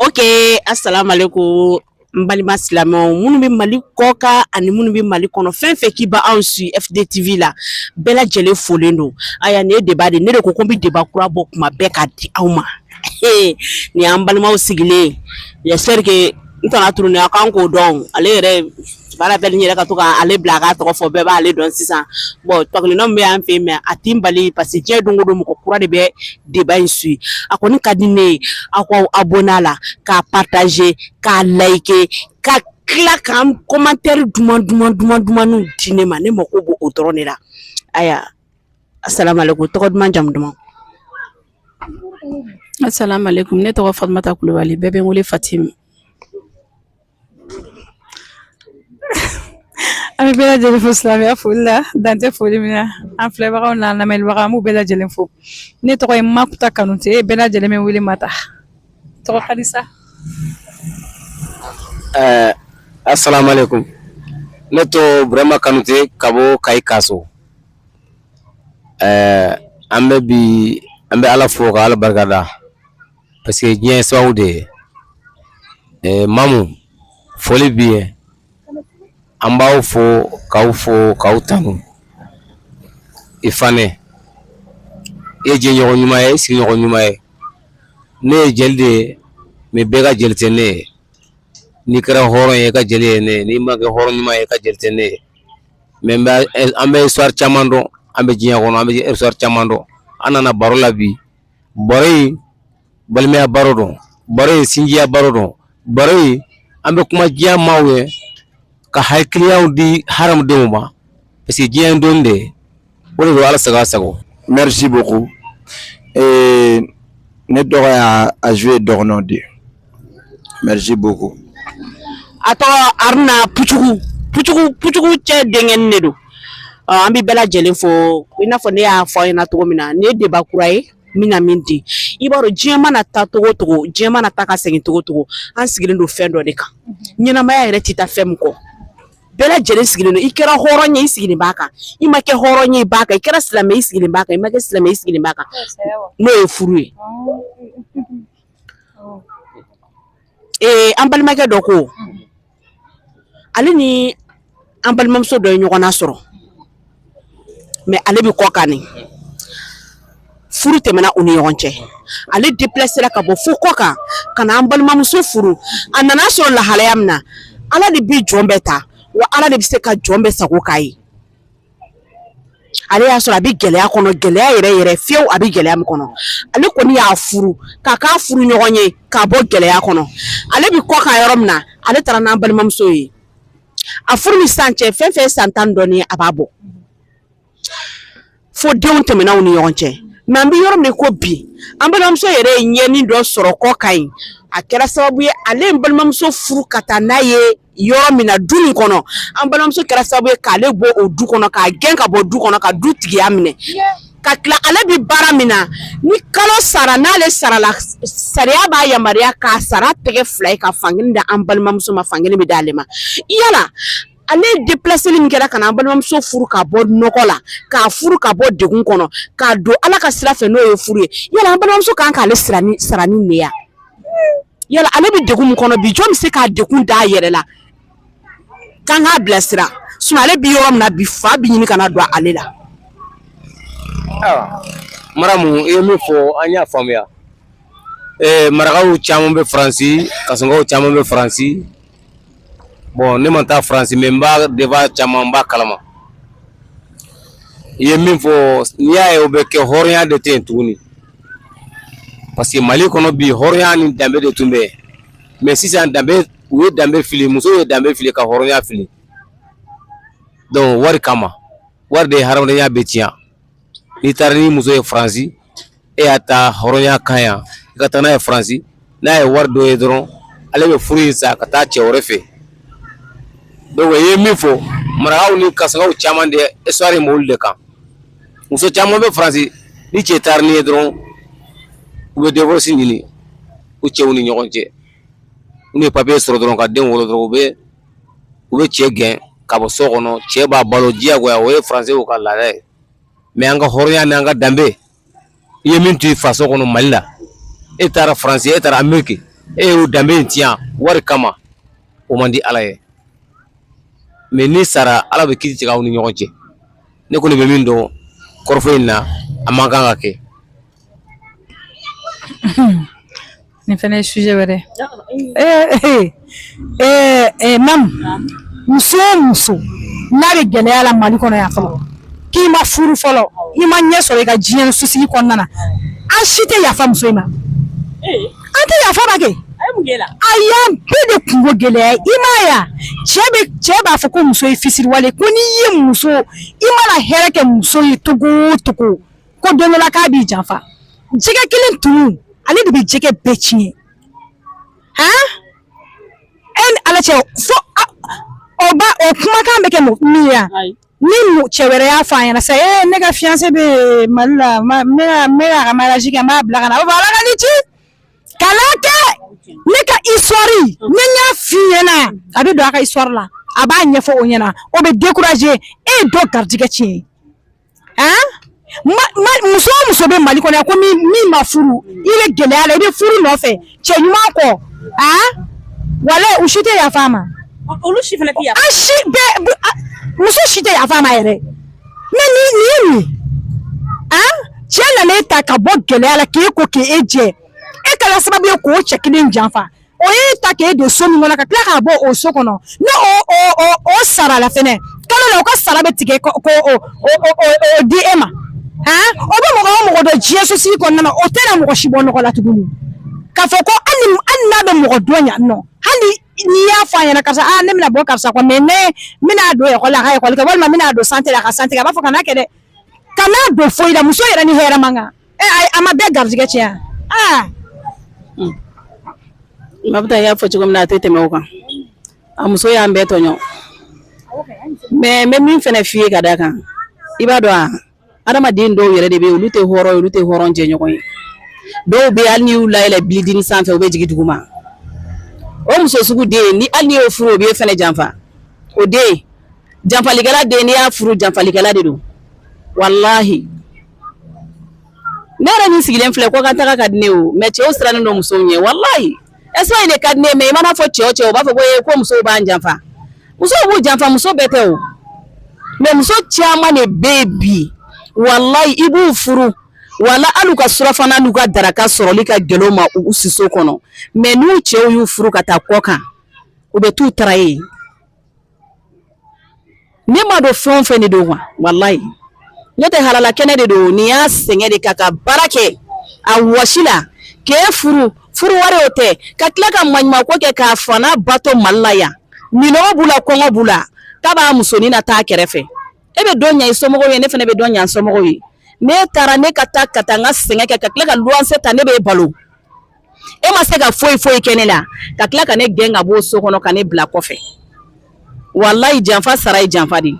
Okay, assalamu alaikum n balima silamɛw minnu bɛ mali kɔkan ani minnu bɛ mali kɔnɔ fɛn fɛn k'i b'anw suivre fdtv la bɛɛ lajɛlen folen don aya ne ye débat de ne de ko ko n bɛ débat kura bɔ kuma bɛɛ k'a di aw ma nin y'an balimaw sigilen j'espère que n tana turuni a kan k'o dɔn ale yɛrɛ baara bɛɛ ni yɛrɛ ka to ka ale bila a k'a tɔgɔ fɔ bɛɛ b'ale dɔn sisan bon tɔkelen bɛ yan fɛ mais a tɛ n bali parce que diɲɛ don o don mɔgɔ kura de bɛ débat in suivre a kɔni ka di ne ye aw ka abonné a la k'a partager k'a liker ka tila k'an commentaire duman duman duman dumanw di ne ma ne mako b'o dɔrɔn de la ayiwa asalaamualeykum tɔgɔ duman jamu duman Assalamu alaikum ne tɔgɔ fatimata kulubali bɛɛ bɛ n wele fatimi an bɛ bɛɛ lajɛlen fo silamɛya foli la dan tɛ foli min na an filɛbagaw n'an lamɛnbagaw an b'u bɛɛ lajɛlen fo ne tɔgɔ ye makuta kanute bɛɛ lajɛlen bɛ n wele mata tɔgɔ kadisa ɛɛ asalaamaaleykum ne tɔgɔ burama kanute ka bɔ kayi kaso ɛɛ an bɛ bi an bɛ ala fo ka ala barika da parce que diɲɛ ye sababu de ye ɛɛ mamu foli bi ye an b'aw fo k'aw fo k'aw tanu i fane i ye jɛɲɔgɔn ɲuman ye i sigiɲɔgɔn ɲuman ye ne ye jeli de ye mais bɛɛ ka jeli tɛ ne ye n'i kɛra hɔrɔn ye i ka jeli ye ne ye n'i ma kɛ hɔrɔn ɲuman ye i ka jeli tɛ ne ye mais an bɛ histoire caman dɔn an bɛ diɲɛ kɔnɔ an bɛ histoire caman dɔn an nana baro la bi baro in balimaya baro don baro in sinjiya baro don baro in an bɛ kuma diɲɛ maaw ye ka hakilinaw di hadamadenw ma parce que diɲɛ don de ye O de don ala sago sago merci beaucoup ee ne dɔgɔ y'a joué dɔgɔnɔ de merci beaucoup a tɔgɔ aruna pucugu pucugu cɛ denkɛnin de don an bɛ bɛɛ lajɛlen fo i n'a fɔ ne y'a fɔ aw ɲɛna cogo min na ne débat kura ye min na min di i b'a dɔn diɲɛ mana taa cogo cogo diɲɛ mana taa ka segin cogo cogo an sigilen don fɛn dɔ de kan ɲɛnamaya yɛrɛ tɛ taa fɛn min kɔ bɛɛ lajɛlen sigilen don i kɛra hɔrɔn ye i sigilen b'a kan i ma kɛ hɔrɔn ye i b'a kan i kɛra silamɛ i sigilen b'a kan i ma kɛ silamɛ i sigilen b'a kan n'o ye furu ye ee an balimakɛ dɔ ko ale ni an balimamuso dɔ ye ɲɔgɔnna sɔrɔ mɛ ale bɛ kɔkan ni furu tɛmɛna u ni ɲɔgɔn cɛ ale depilasera ka bɔ fo kɔkan ka na an balimamuso furu a nana sɔrɔ lahalaya min na ala de bɛ jɔn bɛɛ ta wa ala de bɛ se ka jɔn bɛɛ sago k'a ye ale y'a sɔrɔ a bɛ gɛlɛya kɔnɔ gɛlɛya yɛrɛ yɛrɛ fiyewu a bɛ gɛlɛya min kɔnɔ ale kɔni y'a furu k'a k'a furuɲɔgɔn ye k'a bɔ gɛlɛya kɔnɔ ale bɛ kɔkan yɔrɔ min na ale taara n'an balimamuso ye a furu ni san cɛ fɛn fɛn san tan dɔɔni a b'a bɔ fo denw tɛmɛna u ni ɲɔgɔn cɛ mɛ an bɛ yɔrɔ min ko bi an balimamuso yɛrɛ ye ɲɛni dɔ sɔrɔ kɔkan yen a kɛra sababu ye ale ye balimamuso furu ka taa n'a ye yɔrɔ min na du min kɔnɔ an balimamuso kɛra sababu ye k'ale bɔ o du kɔnɔ k'a gɛn ka bɔ du kɔnɔ ka du tigiya minɛ ka tila ale bɛ baara min na ni kalo sara n'ale sarala sariya b'a yamaruya k'a sara tɛgɛ fila ye ka fankelen d'an balimamuso ma fankelen bɛ d'ale ma yala ale depilaseli min kɛra ka na an balimamuso furu ka bɔ nɔgɔ la k'a furu ka bɔ degun kɔnɔ k'a don ala ka sira fɛ n'o ye furu ye yala an balimamuso kan k'ale sara ni nin ye wa yala ale bɛ degun min kɔnɔ bi jɔn bɛ se k'a degun d'a yɛrɛ la k'an k'a bilasira sinon ale bi yɔrɔ min na bi fa bi ɲini ka na don ale la. Ayiwa maramu i ye min fɔ an y'a faamuya ee marakaw caman bɛ faransi kasɔnkaw caman bɛ faransi bɔn ne ma taa faransi mɛ n b'a deba caman n b'a kalama i ye min fɔ n'i y'a ye o bɛ kɛ hɔrɔnya de tɛ yen tuguni parce que mali kɔnɔ bi hɔrɔnya ni danbe de tun bɛ yen mɛ sisan danbe u ye danbe fili musow ye danbe fili ka hɔrɔnya fili donc wari kama wari de ye hadamadenya bɛɛ tiɲɛ n'i taara ni muso ye faransi e y'a ta hɔrɔnya kan yan i ka taa n'a ye faransi n'a ye wari dɔ ye dɔrɔn ale bɛ furu in sa ka taa cɛ wɛrɛ fɛ donc i ye min fɔ marakaw ni kasɔnkaw caman de histoire in b'olu de kan muso caman bɛ faransi ni cɛ taara n'i ye dɔrɔn u bɛ divorce ɲini u cɛw ni ɲɔgɔn cɛ n'u ye papiye sɔrɔ dɔrɔn ka den wolo dɔrɔn u bɛ u bɛ cɛ gɛn ka bɔ so kɔnɔ cɛ b'a balo diyagoya o ye faransiw ka laada ye mɛ an ka hɔrɔnya n'an ka danbe i ye min to i faso kɔnɔ mali la e taara faransi e taara ameriki e y'o danbe in tiɲɛ wari kama o man di ala ye mɛ n'i sara ala bɛ kiiti tigɛ aw ni ɲɔgɔn cɛ ne kɔni bɛ min dɔn kɔrɔfɔ in na a man kan ka kɛ nin fana ye sujet wɛrɛ ye mamu muso o muso n'a bɛ gɛlɛya la mali kɔnɔ yan fɔlɔ k'i ma furu fɔlɔ i ma ɲɛ sɔrɔ i ka diɲɛ sosigi kɔnɔna na an si tɛ yafa muso in ma an tɛ yafa ma kɛ a y'an bɛɛ de kungo gɛlɛya i m'a ye cɛ bɛ cɛ b'a fɔ ko muso ye fisiriwale ko n'i ye muso i mana hɛrɛ kɛ muso ye cogo o cogo ko don dɔ la k'a b'i janfa jɛgɛ kelen toli ale de bɛ jɛgɛ bɛɛ tiɲɛ han e ni ala cɛ fo o ba o kumakan bɛ kɛ min ye ni cɛ wɛrɛ y'a fɔ a ɲɛna sa ee ne ka fiancé bɛ mali la ne ka ne ka ka mariage kɛ n b'a bila ka na o b'a ala k'an kisi kana kɛ ne ka histoire ne y'a f'i ɲɛna a bɛ don a ka histoire la a b'a ɲɛfɔ o ɲɛna o bɛ décourager e ye dɔ garijɛgɛ tiɲɛ muso o muso bɛ mali kɔnɔ ko min ma furu i bɛ gɛlɛya la i bɛ furu nɔfɛ cɛ ɲuman kɔ a wala u si tɛ yafa ma olu si fana an si bɛɛ muso si tɛ yafa ma yɛrɛ mais ni nin ye nin a cɛ nana e ta ka bɔ gɛlɛya la k'e ko k'e jɛ e kɛra sababu ye k'o cɛ kelen janfa o y'e ta k'e don so min kɔnɔ ka tila k'a bɔ o so kɔnɔ ne o o o o sara la fɛnɛ kalo la o ka sara bɛ tigɛ ko ko o o o o o di e ma han o bɛ mɔgɔ o mɔgɔ dɔn diɲɛ sosigi kɔnɔna na o tɛna mɔgɔ si bɔ nɔgɔ la tuguni k'a fɔ ko hali ni hali n'a bɛ mɔgɔ dɔn yan nɔ hali n'i y'a fɔ a ɲɛna karisa aa ne bɛna bɔ karisa kɔ mais ne bɛna don ekɔli la a ka ekɔli kɛ walima n bɛna don santé la a ka santé kɛ a b'a fɔ kana kɛ dɛ kana don foyi la muso yɛrɛ ni hɛrɛ man kan a ma bɛɛ garijɛgɛ tiɲɛ mabinta y'a fɔ cogo min na a tɛ tɛmɛ o kan a muso y'an bɛɛ tɔɲɔ mais n bɛ min fana f'i ye ka d'a kan i b'a dɔn wa adamaden dɔw yɛrɛ de bɛ olu tɛ hɔrɔn olu tɛ hɔrɔn jɛɲɔgɔn ye dɔw bɛ hali n'i y'u layɛlɛ bilidini sanfɛ u bɛ jigin duguma o muso sugu den ni hali n'i y'o furu o b'e fɛnɛ janfa o den janfalikɛla den n'i y'a furu janfalikɛla de don walahi ne yɛrɛ min sigilen filɛ kɔkan taga ka di ne o mais cɛw sirannen don musow ɲɛ walayi espagne de ka di ne mais i mana fɔ cɛ o cɛ u b'a fɔ ko ko musow b'an janfa musow b'u janfa muso bɛɛ tɛ o mais muso caman de bɛ yen bi walayi i b'u furu wala hali u ka surafana n'u ka daraka sɔrɔli ka gɛlɛn ma u siso kɔnɔ mais n'u cɛw y'u furu ka taa kɔkan u bɛ t'u taara ye ne ma dɔn fɛn o fɛn de don wa walayi ne tɛ halala kɛnɛ de don nin y'a sɛgɛn de kɛ ka baara kɛ a wɔsi la k'e furu furu wari o tɛ ka tila ka maɲumako kɛ k'a fa n'a ba to mali la yan minɔgɔ b'u la kɔngɔ b'u la k'a b'a musonin nataa kɛrɛfɛ e bɛ dɔ ɲɛ i somɔgɔw ye ne fana bɛ dɔ ɲɛ n somɔgɔw ye ne taara ne ka taa ka taa n ka sɛgɛn kɛ ka tila ka luwanse ta ne b'e balo e ma se ka foyi foyi kɛ ne la ka tila ka ne gɛn ka b'o so kɔnɔ ka ne bila kɔfɛ walayi janfa sara ye janfa de ye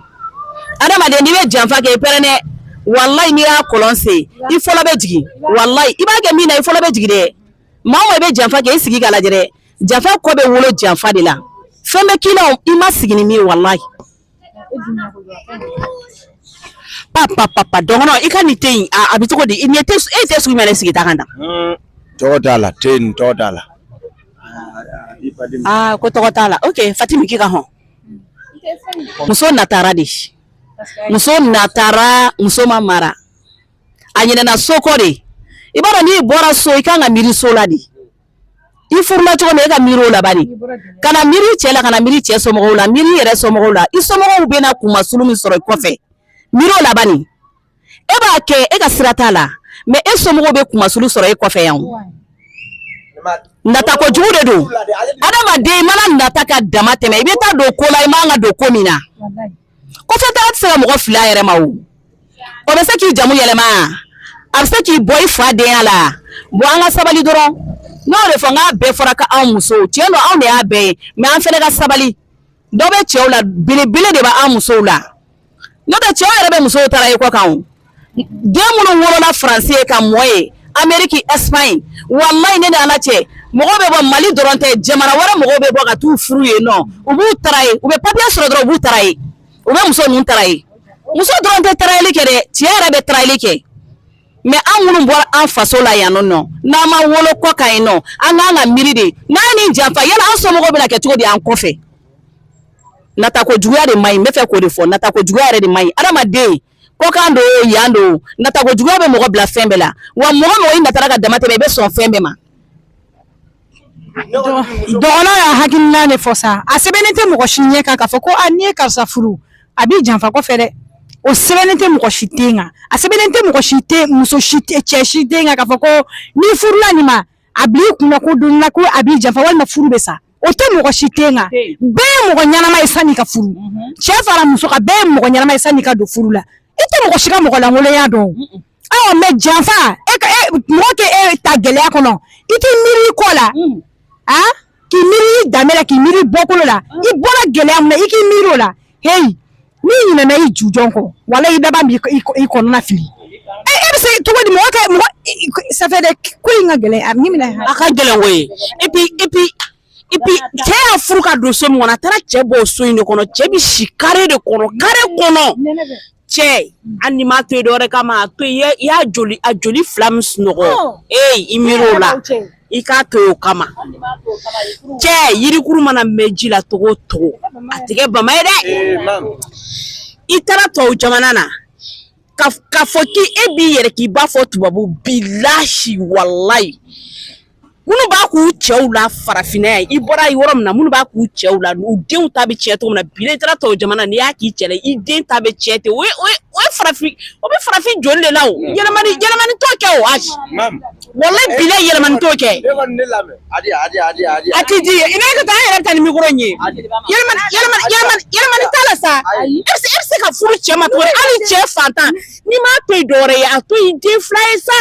adamaden n'i bɛ janfa kɛ i pɛrɛn dɛ walayi n'i y'a kɔlɔn sen i fɔlɔ bɛ jigin walayi i b'a kɛ min na i fɔlɔ bɛ jigin dɛ maa o maa i bɛ janfa kɛ i sigi k'a lajɛ dɛ janfa kɔ bɛ wolo janfa de la fɛn bɛ k'i la i ma sigi ni min ye walayi Papa papa dɔgɔnɔ i ka nin te in a bɛ cogo di i nin te e te sugu min na sigi ta kan na tɔgɔ t'a la te nin tɔgɔ t'a la aa ko tɔgɔ t'a la oke fatima k'i ka hɔn muso natara de muso natara muso ma mara a ɲinɛna so kɔ de i b'a dɔn n'i bɔra so i kan ka miiri so la de i furula cogo min e ka miiri o la bani kana miiri cɛ la kana miiri cɛ somɔgɔw la miiri i yɛrɛ somɔgɔw la i somɔgɔw bɛna kunmasulu min sɔrɔ i kɔfɛ miiri o la bani e b'a kɛ e ka sira t'a la mais e somɔgɔw bɛ kunmasulu sɔrɔ e kɔfɛ yan o nata kojugu de don adamaden i mana nata ka dama tɛmɛ i bɛ taa don ko la i man ka don ko min na kɔfɛtaga tɛ se ka mɔgɔ fil'a yɛrɛ ma o o bɛ se k'i jamu yɛlɛma a bɛ se k'i bɔ i fa denya la bon an ka sabali dɔrɔn n y'o de fɔ n k'a bɛɛ fɔra ka anw musow tiɲɛ don anw de y'a bɛɛ ye mɛ an fana ka sabali dɔ bɛ cɛw la belebele de bɛ an musow la n'o tɛ cɛw yɛrɛ bɛ musow tarayi kɔkan den minnu wolola faransi yen ka mɔ yen ameriki espagne walayi ne ni ala cɛ mɔgɔ bɛ bɔ mali dɔrɔn tɛ jamana wɛrɛ mɔgɔw bɛ bɔ ka t'u furu yen nɔ u b'u tarayi u bɛ papiye sɔrɔ dɔrɔn u b'u tarayi u bɛ muso ninnu tarayi muso dɔrɔn tɛ tarayili kɛ dɛ cɛ yɛrɛ bɛ tarayili kɛ mɛ an minnu bɔra an faso la yan nɔ n'an ma wolo kɔkan yen nɔ an kan ka miiri de n'an ye nin janfa yala an somɔgɔw bɛna kɛ cogo di an kɔfɛ nata kojuguya de man ɲi n bɛ fɛ k'o de fɔ nata kojuguya yɛrɛ de man ɲi adamaden kɔkan don o yan don o nata kojuguya bɛ mɔgɔ bila fɛn bɛɛ la wa mɔgɔ o mɔgɔ i natara ka dama tɛmɛ i bɛ sɔn fɛn bɛɛ ma dɔgɔnɔ y'a hakilina de fɔ sa a sɛbɛnnen tɛ mɔgɔ si ɲɛ kan k'a fɔ ko a n'i ye karisa furu a b'i janfa kɔfɛ dɛ o sɛbɛnnen tɛ mɔgɔ si ten kan a sɛbɛnnen tɛ mɔgɔ si tɛ muso si tɛ cɛ si ten kan k'a fɔ ko n'i furula nin ma a bil'i kunna ko don na ko a b'i janfa walima furu bɛ sa o tɛ mɔgɔ si ten kan bɛɛ ye mɔgɔ ɲɛnama ye sanni ka furu mhm. cɛ fara muso kan bɛɛ ye mɔgɔ ɲɛnama ye sanni ka don furu la i tɛ mɔgɔ si ka mɔgɔ lankolonya dɔn a mɛ janfa e ka e, mɔgɔ ka e ta gɛlɛya kɔnɔ i tɛ miiri i kɔ la mm. a ah? k'i miiri i danbe la k'i miiri i bɔkolo la i bɔra gɛlɛya min na i k'i miiri o la heyi n'i ɲinɛna i jujɔn kɔ walayi i laban b'i kɔnɔna fili e e bɛ se cogo di mɔgɔ kɛ mɔgɔ ça fait des ko in ka gɛlɛn a minɛ a ka gɛlɛn koyi et puis et puis et puis cɛ y'a furu k'a don so min kɔnɔ a taara cɛ bɔ o so in de kɔnɔ cɛ bɛ si kare de kɔnɔ kare kɔnɔ cɛ hali n'i m'a to yen dɔwɛrɛ kama a to yen i y'a joli a joli fila min sunɔgɔ ee i miiri o la i k'a to yen o kama cɛ yirikuru mana mɛn ji la cogo o cogo a tɛ kɛ bama ye dɛ i taara tɔw jamana na ka k'a fɔ k'i e b'i yɛrɛ k'i b'a fɔ tubabu bilahi walayi minnu b'a k'u cɛw la farafinna yan i bɔra yɔrɔ min na minnu b'a k'u cɛw la u denw ta bɛ tiɲɛ cogo min na bi n'i taara tɔw jamana n'i y'a k'i cɛ la i den ta bɛ tiɲɛ ten o ye o ye o ye farafin o bɛ farafin joli de la o yɛlɛmani yɛlɛmani t'o kɛ o ayi walayi bila yɛlɛmani t'o kɛ a tɛ di i n'a ka taa an yɛrɛ bɛ taa ni mikoro in ye yɛlɛmani yɛlɛmani yɛlɛmani yɛlɛmani t'a la sa e bɛ se e bɛ se ka furu cɛ ma cogo di hali cɛ fantan n'i m'a to yen dɔwɛrɛ ye a to yen den fila ye sa.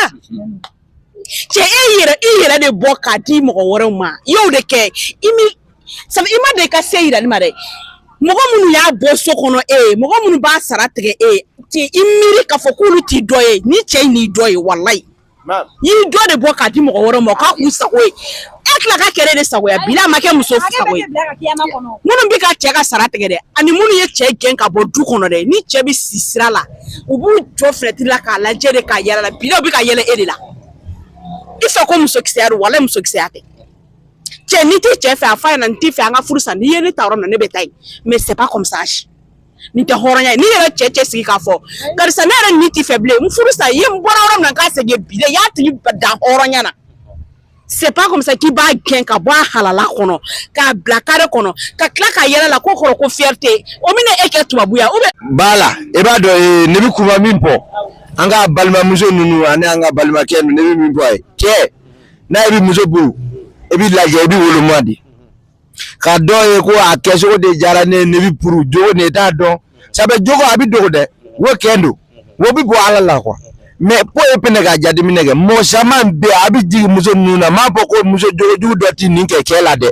cɛ e yɛrɛ i yɛrɛ de bɔ k'a di mɔgɔ wɛrɛw ma i y'o de kɛ i mi sabu i ma deli ka se yirali ma dɛ mɔgɔ minnu y'a bɔ so kɔnɔ e ye mɔgɔ minnu b'a sara tigɛ e ye ti i miiri k'a fɔ k'olu t'i dɔ ye ni cɛ in n'i dɔ ye walayi i y'i dɔ de bɔ k'a di mɔgɔ wɛrɛw ma k'a k'u sago ye e tila ka kɛlɛ de sago ya bila ma kɛ muso sago ye minnu bɛ ka cɛ ka sara tigɛ dɛ ani minnu ye cɛ gɛn ka bɔ du kɔnɔ dɛ ni cɛ bɛ si sira la u b'u jɔ filɛti la k'a lajɛ de ka yɛlɛ a la bila u bɛ ka yɛlɛ e de la i fɛ ko musokisɛya don wala musokisɛya tɛ cɛ n'i tɛ cɛ fɛ a fɔ a ɲɛ na n t'i fɛ an ka furu sa n'i ye ne ta yɔrɔ min na ne bɛ taa yen mais c'est pas comme ça nin tɛ hɔrɔnya ye n'i yɛrɛ cɛ cɛ sigi k'a fɔ karisa ne yɛrɛ n t'i fɛ bilen n furu sa i ye n bɔra yɔrɔ min na n ka segin bi dɛ i y'a tigi dan hɔrɔnya na c'est pas comme ça k'i b'a gɛn ka bɔ a halala kɔnɔ k'a bila kare kɔnɔ ka tila ka yɛlɛ a la ko kɔrɔ ko fierté o bɛna e kɛ tubabuya ou bien b'a la e b'a dɔn ee ne bɛ kuma min fɔ an ka balimamuso ninnu ani an ka balimakɛ ninnu ne bɛ min fɔ a ye cɛ ni e bɛ muso puru e b'i lajɛ i bɛ woloma de ka dɔ ye ko a kɛcogo de diyara ne ye ne b'a puru jogo ne t'a dɔn sabu jogo a bɛ dogo dɛ wo kɛn don wo bɛ bɔ ala la quoi mais po e pɛnɛ ka jateminɛ kɛ mɔgɔ caman bɛ a bɛ jigin muso ninnu na n m'a fɔ ko muso jogojugu dɔ tɛ nin kɛ cɛ la dɛ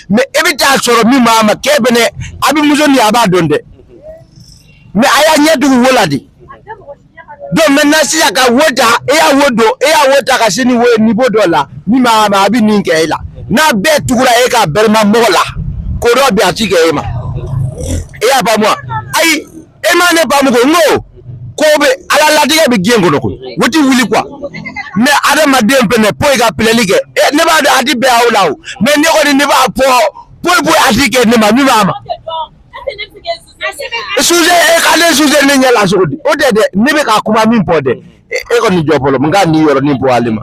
mais e bɛ t'a sɔrɔ min b'a ma kɛ fɛnɛ a bɛ muso nin a b'a dɔn dɛ mais a y'a ɲɛ tugu wo la de donc maintenant sisan ka wo ta e y'a wo don e y'a wo ta ka se ni wo ye niveau dɔ la min ma ma a bɛ nin kɛ e la n'a bɛɛ tugura e ka bɛrɛma mɔgɔ la ko dɔ bɛ a ti kɛ e ma e y'a faamu wa ayi e ma ne faamu ko n ko ko bɛ ala latigɛ bɛ diɲɛ kɔnɔ koyi o ti wuli quoi mɛ adamaden fɛnɛ po i ka pilɛli kɛ e ne b'a dɔn a ti bɛn aw la o mɛ ne kɔni ne b'a fɔ poyi poyi a ti kɛ ne ma min b'a ma. sujɛ e k'ale sujɛ ne ɲɛ la cogo di o tɛ dɛ ne bɛ ka kuma min fɔ dɛ e kɔni jɔ fɔlɔ n ka nin yɔrɔnin fɔ ale ma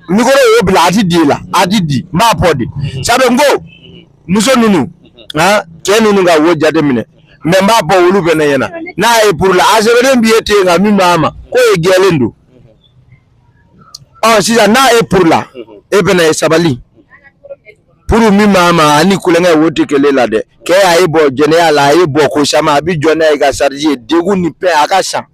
mikoro y'o bila a ti di la a ti di n b'a fɔ de sabu n ko muso ninnu cɛ ninnu ka wo jateminɛ mɛ n b'a fɔ olu fɛnɛ ɲɛna n'a ye purula a sɛbɛnnen b'i ye ten nka min b'a ma k'o ye gɛlɛn don ɔ sisan n'a ye purula e fɛnɛ ye sabali puru min b'a ma ani kulonkɛ wo tɛ kelen la dɛ kɛ a ye bɔ jɛnɛya la a ye bɔ ko caman a bɛ jɔ n'a ye ka sariji ye degun ni pɛn a ka san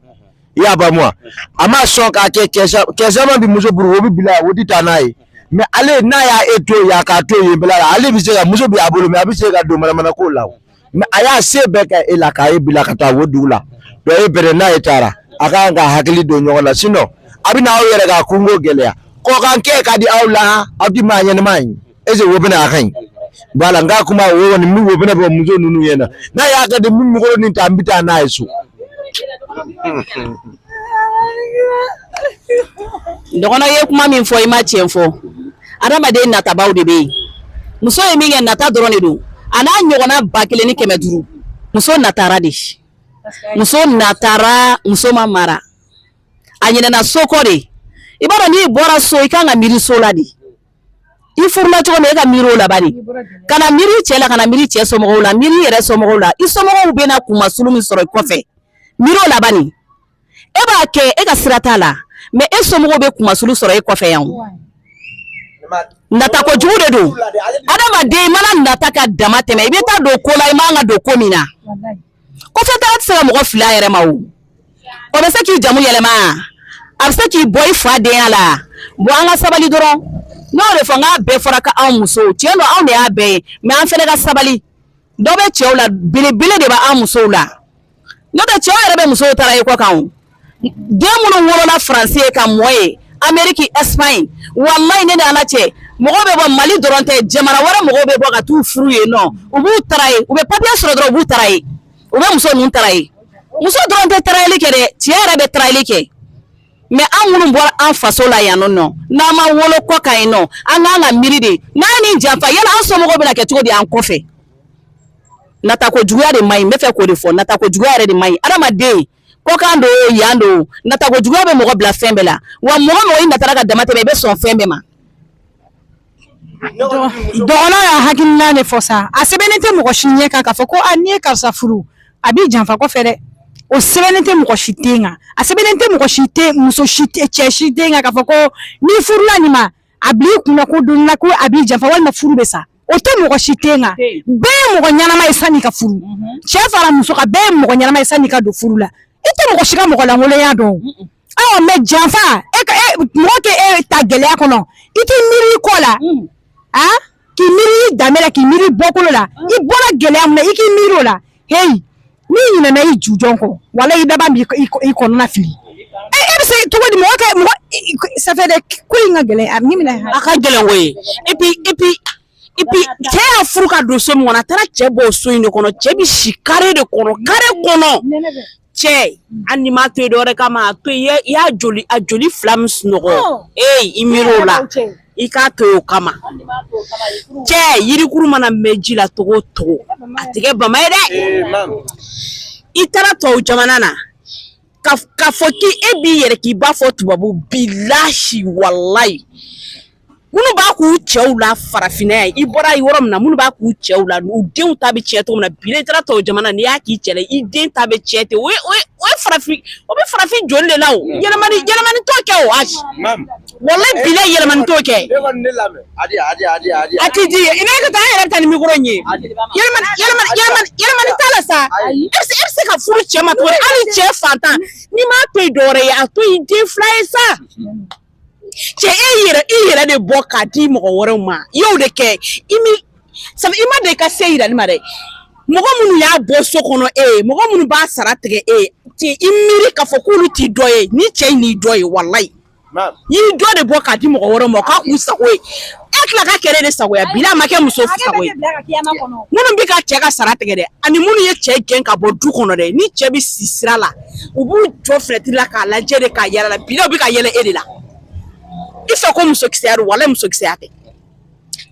i y'a faamu wa a ma sɔn k'a kɛ kɛ caman bi muso puru o bɛ bila o tɛ taa n'a ye mɛ ale n'a y'a e to yen a k'a to yen bila la ale bɛ se ka muso bɛ a bolo mɛ a bɛ se ka don manamana ko la mɛ a y'a se bɛɛ kɛ e la k'a ye bila ka taa o dugu la donc e bɛrɛ n'a ye taara a kan ka hakili don ɲɔgɔn la sinon a bɛna aw yɛrɛ ka kungo gɛlɛya kɔkan kɛ ka di aw la aw ti maa ɲɛnama ye ese wo bɛna a ka ɲi ba la n ka kuma wo ni wo bɛna bɔ muso ninnu ye na n'a y'a kɛ di mikoro nin ta n bɛ taa n'a ye so dɔgɔnin ye kuma min fɔ i ma tiɲɛ fɔ adamaden natabaaw de bɛ yen muso ye min kɛ nata dɔrɔn de don a n'a ɲɔgɔnna ba kelen ni kɛmɛ duuru muso natara de muso natara muso ma mara a ɲinɛna so kɔ de i b'a dɔn n'i bɔra so i kan ka miiri so la de i furula cogo min e ka miiri o la bani kana miiri cɛ la kana miiri cɛ somɔgɔw la miiri yɛrɛ somɔgɔw la i somɔgɔw bɛna kunmasulu min sɔrɔ i kɔfɛ miiri o la bani e b'a kɛ e ka sira t'a la mɛ e somɔgɔw bɛ kunmasulu sɔrɔ e kɔfɛ yan nata kojugu de don adamaden mana nata ka dama tɛmɛ i bɛ taa don ko la i man ka don ko min na kɔfɛ taa tɛ se ka mɔgɔ fili a yɛrɛ ma o o bɛ se k'i jamu yɛlɛma a bɛ se k'i bɔ i fa denya la bɔn an ka sabali dɔrɔn n'o de fɔ nk'a bɛɛ fɔra ka anw musow tiɲɛ don anw de y'a bɛɛ ye mɛ an fɛnɛ ka sabali dɔ bɛ cɛw la belebele de bɛ an musow la n'o tɛ cɛw yɛrɛ bɛ musow taraye kɔkan o den minnu wolola faransi yen ka mɔ yen ameriki ɛsipaɲi walayi ne ni ala cɛ mɔgɔw bɛ bɔ mali dɔrɔn tɛ jamana wɛrɛ mɔgɔw bɛ bɔ ka t'u furu yen nɔ u b'u taraye u bɛ papiye sɔrɔ dɔrɔn u b'u taraye u bɛ muso ninnu taraye muso dɔrɔn tɛ tarayeli kɛ dɛ cɛ yɛrɛ bɛ tarayeli kɛ mɛ an minnu bɔra an faso la yan nɔ n'an ma wolo kɔkan yen nɔ an k'an ka miiri de n'an ye nin janfa yala an somɔgɔw bɛna kɛ cogo di an kɔfɛ natako juguya de man ɲi n bɛ fɛ k'o de fɔ natako juguya yɛrɛ de man ɲi adamaden kɔkan don o yan don o natako juguya bɛ mɔgɔ bila fɛn bɛɛ la wa mɔgɔ mɔgɔ i natara ka dama tɛmɛ i bɛ sɔn fɛn bɛɛ ma dɔgɔnɔ y'a hakilina de fɔ sa a sɛbɛnnen tɛ mɔgɔ si ɲɛ kan k'a fɔ ko a n'i ye karisa furu a b'i janfa kɔfɛ dɛ o sɛbɛnnen tɛ mɔgɔ si ten kan a sɛbɛnnen tɛ mɔgɔ si tɛ muso si tɛ cɛ si ten kan k'a fɔ ko n'i furula nin ma a bil'i kunna ko don na ko a b'i janfa walima furu bɛ sa o tɛ mɔgɔ si ten na bɛɛ ye mɔgɔ ɲɛnama ye sanni ka furu mhm. cɛ fara muso kan bɛɛ ye mɔgɔ ɲɛnama ye sanni ka don furu la i tɛ mɔgɔ si ka mɔgɔ lankolonya dɔn awa mais janfa e ka e, mɔgɔ k'e ta gɛlɛya kɔnɔ i t'i miiri i kɔ la mm. a k'i miiri i danbe la k'i miiri i bɔkolo la mm. i bɔra gɛlɛya min na i k'i miiri o la heyi N'i ɲinɛna i jujɔn kɔ walahi i laban b'i kɔnɔna fili e e be se cogodi mɔgɔ kɛ mɔgɔ i i k ça fait dɛ k ko in ka gɛlɛn a nin minɛ han a ka gɛlɛn koyi et puis et puis et puis cɛ y'a furu ka don so min kɔnɔ a taara cɛ bɔ o so in de kɔnɔ cɛ bi si carré de kɔnɔ carré kɔnɔ nɛnɛ bɛ cɛ hali n'i m'a to yen dɔwɛrɛ kama a to yen i y'a i y'a joli a joli 2 min sunɔgɔ ɔɔ ee i miir'o la a y'a da u cɛ i k'a to o kama cɛ yirikuru mana mɛn ji la cogo o cogo a tɛ kɛ bama ye dɛ i taara tubabu jamana na k'a fɔ k'i e b'i yɛrɛ k'i b'a fɔ tubabu bilahi walayi minnu b'a k'u cɛw la farafinna yan i bɔra yɔrɔ min na minnu b'a k'u cɛw la u denw ta bɛ tiɲɛ cogo min na bi n'i taara tubabu jamana n'i y'a k'i cɛ la i den ta bɛ tiɲɛ ten o ye o ye o ye farafin o bɛ farafin joli de la o yɛlɛmani yɛlɛmani t'o kɛ o ayi walayi bilahi yɛlɛmani t'o kɛ a tɛ di ye i bɛ ka taa an yɛrɛ ta ni mikoro in ye yɛlɛmani t'a la sa e bɛ se e bɛ se ka furu cɛ ma tuguni hali cɛ fantan n'i m'a to yen dɔwɛrɛ ye a to yen den fila ye sa cɛ e yɛrɛ i yɛrɛ de bɔ k'a di mɔgɔ wɛrɛw ma i y'o de kɛ i mi sabu i ma deli ka se yirali ma dɛ mɔgɔ minnu y'a bɔ so kɔnɔ e ye mɔgɔ minnu b'a sara tigɛ e ye i miiri k'a fɔ k'olu t'i dɔ ye ni cɛ in y'i dɔ ye walayi I y'i dɔ de bɔ k'a di mɔgɔ wɛrɛw ma k'a k'u sago ye e tila ka kɛ olu de sago ye bilahi a ma kɛ muso sago ye minnu bɛ ka cɛ ka sara tigɛ dɛ ani minnu ye cɛ gɛn ka bɔ du kɔnɔ dɛ ni cɛ bɛ si sira la u b'u jɔ finɛtiri la k'a lajɛ de ka yɛlɛ a la bilahi u bɛ ka yɛlɛ e de la i fɛ ko musokisɛya don walayi musokisɛya tɛ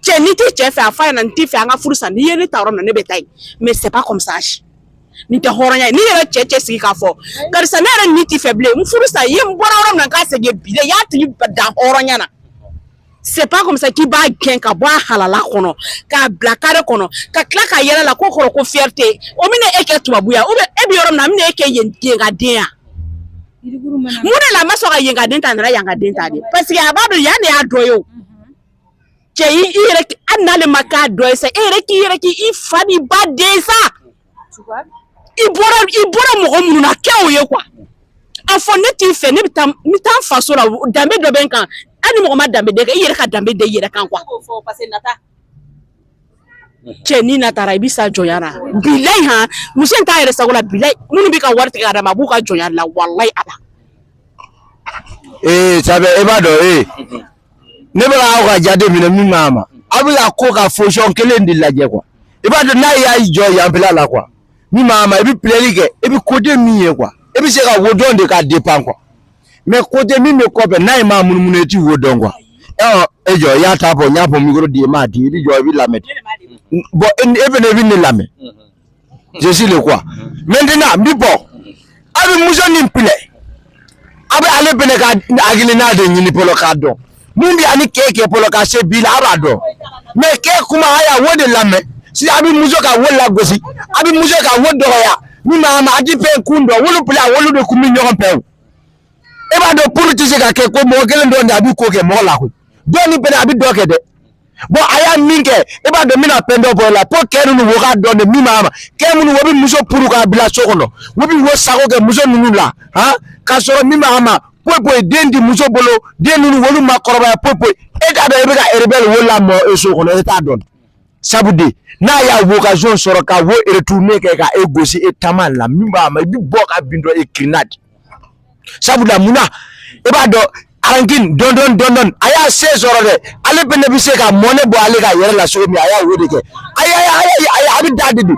cɛ n'i tɛ cɛ fɛ a fɔ a ɲɛna n t'i fɛ an ka furu sa n'i ye ne ta yɔrɔ min na ne bɛ taa yen mais c'est pas comme ça nin tɛ hɔrɔnya ye n'i yɛrɛ cɛ cɛ sigi k'a fɔ karisa ne yɛrɛ ni t'i fɛ bilen n furu sa i ye n bɔra yɔrɔ min na n ka segin bilahi i y'a tigi dan hɔrɔnya na c'est pas comme ça k'i b'a gɛn ka bɔ a halala kɔnɔ k'a bila carré kɔnɔ ka tila ka yɛlɛ a la k'o kɔrɔ ko fierté o bɛna e kɛ tubabu ye wa ou bien e bɛ yɔrɔ min na a bɛna e kɛ yen yenkaden ye wa mun de la a ma sɔn ka yenkaden ta a nana yankaden ta de parce que a b'a dɔn yan de y'a dɔ ye o cɛ i yɛrɛ hali n'ale ma kɛ dɔ ye sa e yɛrɛ k'i yɛrɛ kɛ i fa n'i ba den ye sa i bɔra i bɔra mɔgɔ minnu na kɛ o ye quoi a fɔ ne t'i fɛ ne bɛ taa n bɛ taa n faso la danbe dɔ bɛ n kan hali ni mɔgɔ ma danbe da i kan i yɛrɛ ka danbe da i yɛrɛ kan quoi cɛ n'i natara i bɛ sa jɔnya na bilayi han muso in t'a yɛrɛ sago la bilayi minnu bɛ ka wari tigɛ ka d'a ma a b'u ka jɔnya de la walayi ala. ee sabe e b'a dɔn ee ne bɛ k'aw ka jate minɛ min b'a ma aw bɛ ka ko ka position kelen de lajɛ quoi i b'a dɔn n'a y'a jɔ yanfɛla la quoi min b'a ma i bɛ pilɛli kɛ i bɛ côté min ye quoi i bɛ se ka wo dɔn de k'a défend quoi mais côté min bɛ kɔfɛ n'a ma munumunu e ti wo dɔn quoi e jɔ i y'a ta fɔ n y'a fɔ micro di i m'a di n bɛ jɔ n b'i lamɛn bon e fana i bɛ ne lamɛn jesi le quoi maintenant n bɛ bɔ a bɛ muso nin pilɛ a bɛ ale fana ka hakilina de ɲini fɔlɔ k'a dɔn mun b'a ni kɛ kɛ fɔlɔ ka se bi la a b'a dɔn mais kɛ kuma a y'a wo de lamɛn si a bɛ muso ka wo lagosi a bɛ muso ka wo dɔgɔya min ma ma a ti fɛn kun dɔn wolu fila wolu de kun bɛ ɲɔgɔn fɛ o e b'a dɔn puru tɛ se ka kɛ ko mɔgɔ kelen dɔrɔn de a bɛ ko kɛ mɔgɔ la koyi dɔ nin fɛnɛ a bɛ dɔ kɛ dɛ bon a y'a min kɛ i b'a dɔn n bɛna fɛn dɔ bɔ a la fo kɛ ninnu wo k'a dɔn de min b'a ma kɛ minnu wo bɛ muso puru k'a bila so kɔnɔ wo bɛ wo sago kɛ muso ninnu la han k'a sɔrɔ min b'a ma poyi poyi den di muso bolo den ninnu wolu ma kɔrɔbaya poyi poyi e t'a dɔn i bɛ ka rebelle wo lamɔ e so kɔnɔ e t'a dɔn sabu de n'a y'a occasion sɔrɔ ka wo retourner kɛ ka e gosi e taman la min b'a ma i bɛ bɔ ka bin dɔ e kirinna de sabula mun na i b'a dɔn rancune don don don don a y'a se sɔrɔ dɛ ale fɛnɛ bɛ se ka mɔnɛ bɔ ale ka yɛrɛ la cogo min a y'a o de kɛ a y'a a y'a a y'a a bɛ da de di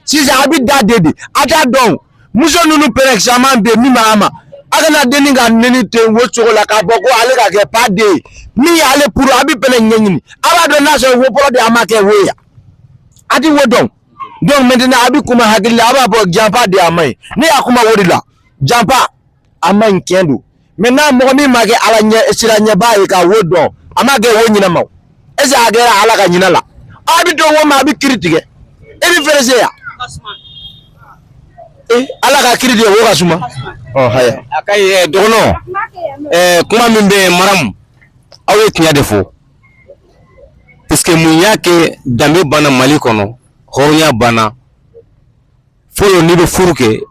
sisan a bɛ da de di a t'a dɔn muso ninnu pɛrɛn caman bɛ yen min b'a ma a kana denni ka nɛni ten wo cogo la k'a fɔ ko ale ka kɛ pa den ye min y'ale puru a bɛ fɛɛrɛ ɲɛɲini a b'a dɔn n'a sɔrɔ wo fɔlɔ de a ma kɛ wo ye a ti wo dɔn. donc maintenant a bɛ kuma hakili la a b'a fɔ janfa de y'a man ɲi ne y'a kuma o de la janfa a man ɲi tiɲɛ don maintenant mɔgɔ min ma kɛ ala ɲɛsiranɲɛbaa ye k'a wo dɔn a ma kɛ wo ɲinɛ ma o est ce que a kɛra ala ka ɲinɛ la a bɛ to wo ma a bɛ kiri tigɛ e bɛ pressé yan ee ala ka kiri tigɛ wo ka suma ɔ haya a ka ɲi dɔgɔnɔ kuma min bɛ yen maramu aw ye tiɲɛ de fɔ Parce que mun y'a kɛ danbe banna Mali kɔnɔ hɔrɔnya banna fɔlɔ n'i bɛ furu kɛ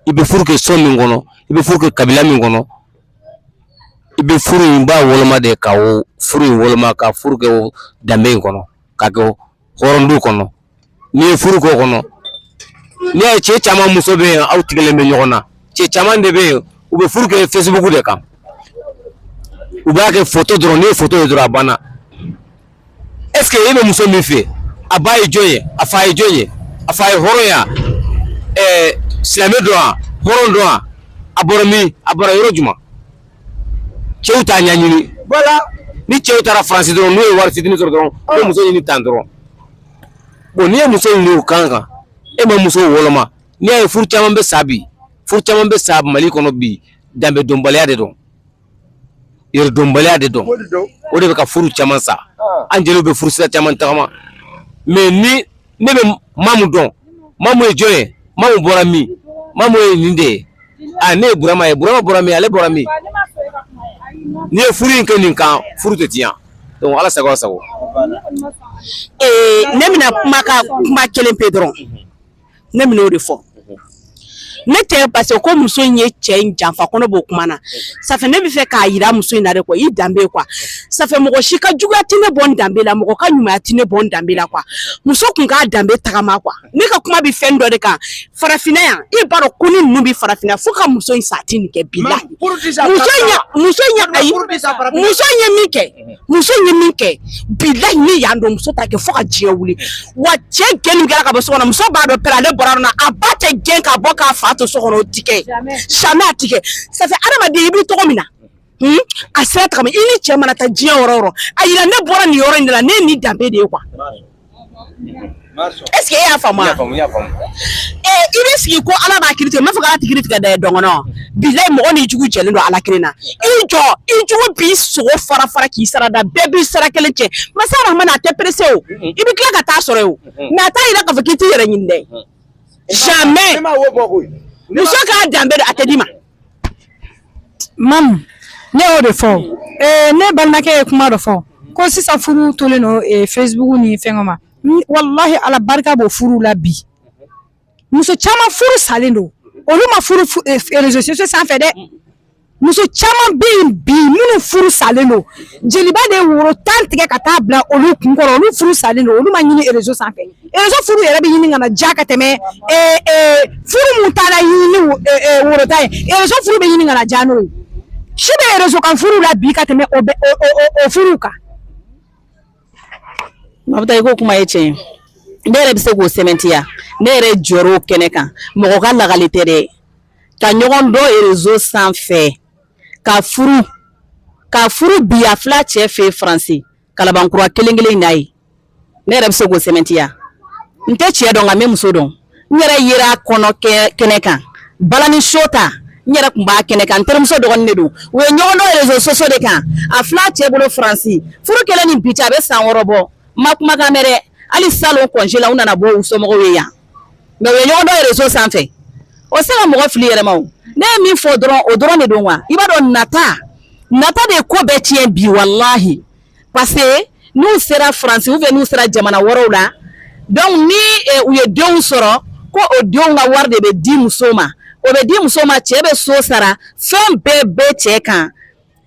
i bɛ furu kɛ so min kɔnɔ i bɛ furu kɛ kabila min kɔnɔ i bɛ furu in b'a woloma de ka o furu in woloma ka furu kɛ o danbe in kɔnɔ k'a kɛ o hɔrɔn du kɔnɔ n'i ye furu k'o kɔnɔ n'i y'a ye cɛ caman muso bɛ yen aw tigɛlen bɛ ɲɔgɔn na cɛ caman de bɛ yen u bɛ furu kɛ fesibuku de kan u b'a kɛ foto dɔrɔn n'i ye foto ye dɔrɔn a banna est-ce que e bɛ muso min fɛ a ba ye jɔn ye a fa ye jɔn ye a fa ye hɔrɔn ye wa silamɛ don wa hɔrɔn don wa a bɔra min a bɔra yɔrɔ jumɛn cɛw t'a ɲɛɲini voilà ni cɛw taara faransi dɔrɔn n'u ye wari fitini sɔrɔ dɔrɔn ah. ko muso ɲini tan dɔrɔn bon n'i ye muso ɲini o kan kan e ma muso woloma n'i y'a ye furu caman bɛ sa bi furu caman bɛ sa mali kɔnɔ bi danbe dɔnbaliya de don yɛrɛdɔnbaliya de don o de bɛ ka furu caman sa ah. an jeliw bɛ furusira caman tagama mais ni ne bɛ mamu dɔn mamu ye jɔn ye mamu bɔra min mamu ye nin de ye a ne ye burama ye burama bɔra min ale bɔra min n'i ye furu in kɛ nin kan furu tɛ tiɲɛ donc ala sago aw sago ee ne bɛna kuma ka kuma kelen pe dɔrɔn ne bɛna o de fɔ ne tɛ parce que ko muso in ye cɛ in janfa ko ne b'o kuma na ça fait ne bɛ fɛ k'a yira muso in na de quoi i danbe quoi ça fait mɔgɔ si ka juguya tɛ ne bɔ n danbe la mɔgɔ ka ɲumanya tɛ ne bɔ n danbe la quoi muso kun k'a danbe tagama quoi ne ka kuma bɛ fɛn dɔ de kan farafinna yan i b'a dɔn ko ni ninnu bɛ farafinna fo ka muso in sa a tɛ nin kɛ bilahi muso in ye min kɛ muso ye min kɛ bilayi ni yan don muso t'a kɛ fo ka diɲɛ wuli wa cɛ gɛn min kɛra ka bɔ so kɔnɔ muso b'a dɔn pɛrɛ ale bɔra yɔrɔ min na a ba tɛ gɛn ka bɔ k'a fa to so kɔnɔ o ti kɛ jamais a ti kɛ ça fait hadamaden i bɛ tɔgɔ min na hmm? a sira tagama i ni cɛ mana taa diɲɛ yɔrɔ o yɔrɔ a yira ne bɔra nin yɔrɔ in de la ne ye nin danbe de ye quoi Est-ce que e y'a faamu? I bɛ sigi ko Ala b'a kiri tigɛ, n m'a fɔ k'Ala tɛ kiri tigɛ dɛ dɔn kɔnɔ. Bilahi mɔgɔ n'i jugu jɛlen don Ala kelen na. I jɔ, i jugu b'i sogo fara fara k'i sara da, bɛɛ b'i sara kelen cɛ. Masa Rahamani a tɛ pressé o, i bɛ tila ka taa sɔrɔ yen o, mais a t'a yira k'a fɔ k'i t'i yɛrɛ ɲini dɛ. Jamais muso k'a danbe dɔn, a tɛ d'i ma. Mamu ne y'o de fɔ ɛɛ ne balimakɛ ye kuma dɔ fɔ ko sisan furu tolen don ee Facebook ni fɛngɛ ma n walahi Ala barika b'o furuw la bi muso caman furu salen don olu ma furu fu ee f réseaux sociaux sanfɛ dɛ muso caman bɛ yen bi minnu furu salen don jeliba de ye woro 10 tigɛ ka taa bila olu kun kɔrɔ olu furu salen don olu ma ɲini réseau sanfɛ rezo furu yɛrɛ bɛ ɲini ka na ja ka tɛmɛ furu min taara ɲini woro 10 ye rezo furu bɛ ɲini ka na ja n'o ye si bɛ rezo kan furu la bi ka tɛmɛ o furu kan mabita i ka kuma ye tiɲɛ ye ne yɛrɛ bɛ se k'o sɛmɛntiya ne yɛrɛ jɔr'o kɛnɛ kan mɔgɔ ka lagali tɛ dɛ ka ɲɔgɔn dɔn rezo sanfɛ ka furu ka furu bi a fila cɛ fɛ yen faransi kalabankura kelen kelen in na ye ne yɛrɛ bɛ se k'o sɛmɛntiya n tɛ cɛ dɔn nka n bɛ muso dɔn n yɛrɛ yera kɔɲɔ kɛnɛ kan balani show ta n yɛrɛ tun b'a kɛnɛ kan n terimuso dɔgɔnin de don u ye ɲɔgɔn dɔn réseaux sociaux de kan a filɛ cɛ bolo France furu kɛlen ni bi cɛ a bɛ san wɔɔrɔ bɔ n ma kumakan mɛn dɛ hali salon congé la u nana bɔ u somɔgɔw ye yan mais u ye ɲɔgɔn dɔn réseau sanfɛ o se ka mɔgɔ fili yɛrɛ ma o ne ye min fɔ dɔrɔn o dɔrɔn de don wa i b'a dɔn nata nata de ye ko bɛɛ tiɲɛ bi walahi parce que n'u sera France ou bien n'u sera jamana wɛrɛw la donc ni eh, u ye denw sɔrɔ ko o denw ka wari de bɛ di muso ma o bɛ di muso ma cɛ bɛ so sara fɛn bɛɛ bɛ cɛ kan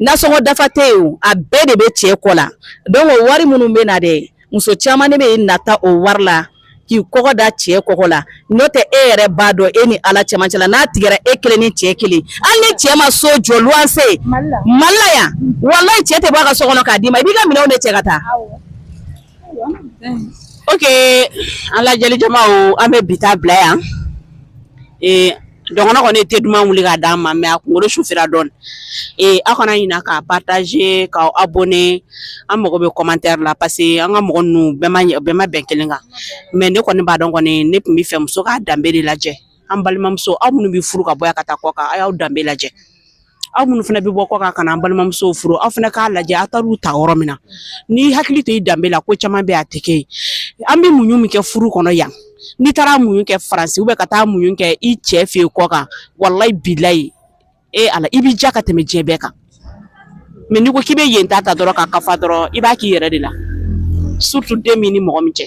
nasɔngɔ dafa tɛ yen o a bɛɛ de bɛ cɛ kɔ la donc o wari minnu bɛ na dɛ muso caman de bɛ nata o wari la k'i kɔgɔ da cɛ kɔgɔ la n'o tɛ e yɛrɛ b'a dɔn e ni ala cɛmancɛ la n'a tigɛra e kelen ni cɛ kelen hali ni cɛ ma so jɔ luwanse mali la yan walayi cɛ tɛ bɔ a ka so kɔnɔ k'a d'i ma i b'i ka minɛnw de cɛ ka taa ok an lajɛli jamaw an bɛ bi ta bila yan ee Dɔgɔnɔ kɔni te duman wuli k'a d'an ma mais a kunkolo sufira dɔɔni aw kana ɲina k'a partager k'aw abonner an mago bɛ commentaire la parce que an ka mɔgɔ ninnu bɛɛ ma bɛn kelen kan mais ne kɔni b'a dɔn kɔni ne tun bɛ fɛ muso k'a danbe de lajɛ an balimamuso aw minnu bɛ furu ka bɔ yan ka taa kɔ kan aw y'aw danbe lajɛ aw minnu fana bɛ bɔ kɔ kan ka na an balimamusow furu aw fana k'a lajɛ aw taar'u ta yɔrɔ min na n'i hakili to i danbe la ko caman bɛ a tɛ kɛ ye an bɛ muɲu min kɛ furu kɔnɔ yan n'i taara muɲu kɛ France ou bien ka taa muɲu kɛ i cɛ fɛ yen kɔ kan walayi bilayi e ala i b'i ja ka tɛmɛ diɲɛ bɛɛ kan mais n'i ko k'i bɛ yen ta ta dɔrɔn ka kafa dɔrɔn i b'a k'i yɛrɛ de la surtout den b'i ni mɔgɔ min cɛ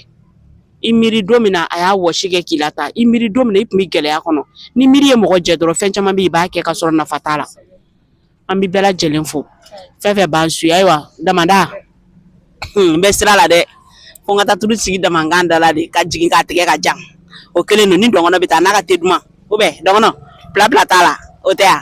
i miiri don min na a y'a wɔsi kɛ k'i la tan i miiri don min na i tun bɛ gɛlɛya kɔnɔ ni miiri ye mɔgɔ jɛ dɔrɔn fɛn caman bɛ yen i b'a kɛ ka sɔrɔ nafa t'a la an bɛ bɛɛ lajɛlen fo fɛn fɛn b'an suivre ayiwa damada n bɛ sira la dɛ fo n ka taa tulu sigi damankan da la de ka jigin k'a tigɛ ka jan o kelen don ni dɔgɔnɔ bɛ taa n'a ka te duman ou bien dɔgɔnɔ blabla t'a la o tɛ yan